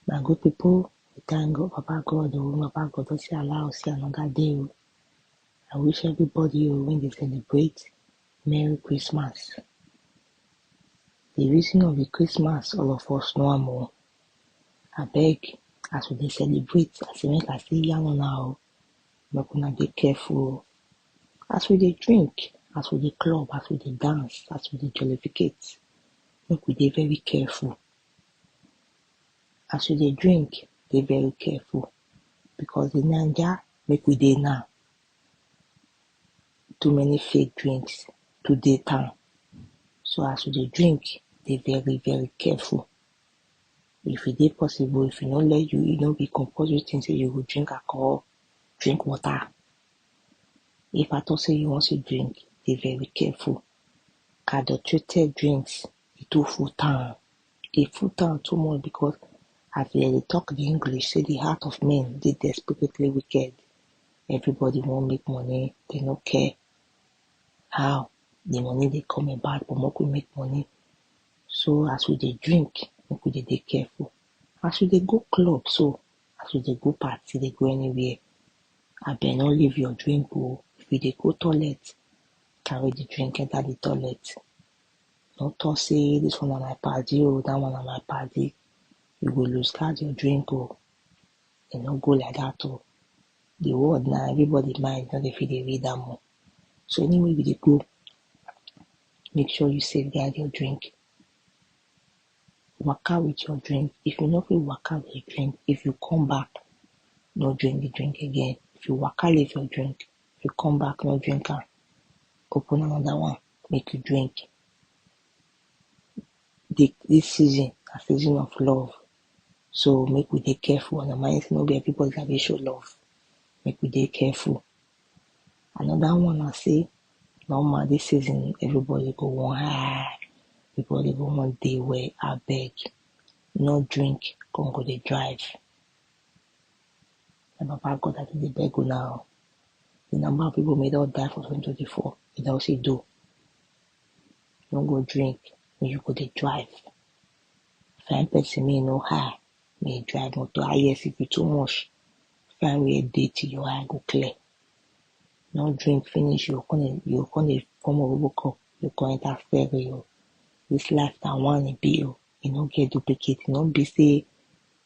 My good people, we thank God, Papa God, oh, Papa God, don't you allow us see another day. oh. I wish everybody oh, when they celebrate Merry Christmas. The reason of the Christmas, all of us know am oh. I beg, as we dey celebrate, I say make I say yarn on now, make una dey careful. oh. As we dey drink, as we dey club, as we dey dance, as we dey jollificate, make we dey very careful. As you dey drink, dey very careful because the Naija make we dey now, too many fake drinks to dey town. So as you dey drink, dey very very careful. If e dey possible, if e no let you, e no be compulsory thing say you go drink alcohol, drink water. If at all say you wan still drink, dey very careful. Adulterated drinks e too full town, e full town too much because as dem dey talk di English sey di heart of men dey desperately wicked, everybody wan make money, dem no care how di money dey come about but make we make money, so as we dey drink make we dey dey careful, as we dey go club so, as we dey go party dey go anywhere, abeg no leave your drink oh, if you dey go toilet carry di drink enter di toilet. No talk say this one na my paddy o, that one na my paddy You go lose guard your drink o E no go like that o The world na everybody mind no dey fit dey read am o So anywhere you dey go Make sure you safe guard your drink Waka with your drink If you no fit waka with your drink If you come back No drink the drink again If you waka leave your drink If you come back no drink am Open another one make you drink. Di dis season na season of love so make we dey careful and remind sey no be everybody I dey show love make we dey careful. Anoda one na sey normal dis season everybody go wan high everybody go wan dey well abeg no drink con go dey drive. My Papa God, I do dey beg una o. The number of people may don die for 2024, e don see do. No go drink, make you go dey drive. Find person may no hire, may you drive motor. I yes, if you too much, find where dey till your eye go clear. No drink finish, you come you come dey come over cup, you come enter ferry o. This life na one e be o, e no get duplicate, e no be say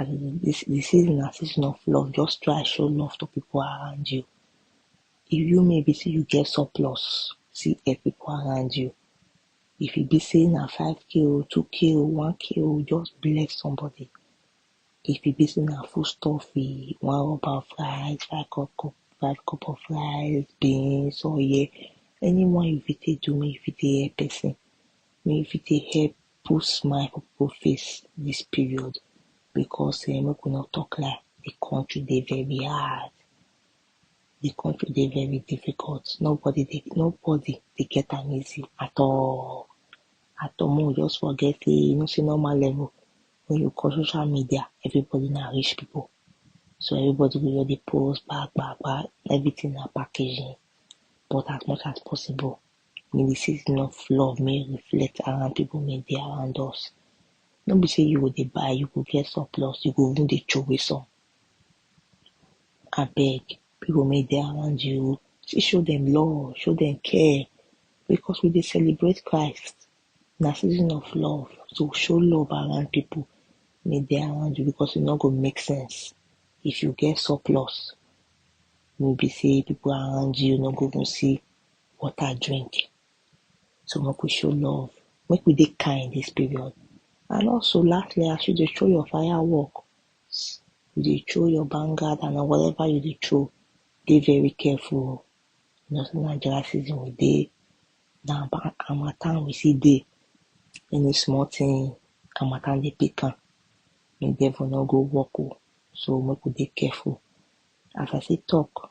As e dey dis di season na season of love just try show love to pipu around you if you me be sey you get surplus still help pipu around you if e be sey na five k oh or two k oh one k oh just bless somebody if e be sey na food stuff you wan rub am for eye five cup of five cup of rice, beans, oil any one you fit take do make you fit take help person make you fit take help put smile for pipu face dis period because um make we no talk lie di country dey very hard, di country dey very difficult nobody dey nobody dey get am easy at all at all make we just forget sey you know sey normal level wen you call social media everybody na rich pipu so everybody go just dey post gba gba gba everything na packaging but as much as possible May di season of love may e reflect around pipu may dey around us no be sey you go dey buy you go get surplus you go even dey troway some abeg pipu may dey around you oh still show dem love show dem care because we dey celebrate Christ na season of love so show love around pipu may dey around you because e no go make sense if you get surplus wey be sey pipu around you no go even see water drink. So make we show love, make we dey kind this period. And also lastly, as you dey throw your fireworks, you dey throw your bangad and whatever you dey throw, dey very careful. You know, say na dry season we dey, na harmattan we see dey. Any small thing, harmattan dey pick am. Make devil no go work o. So make we dey careful. As I take talk,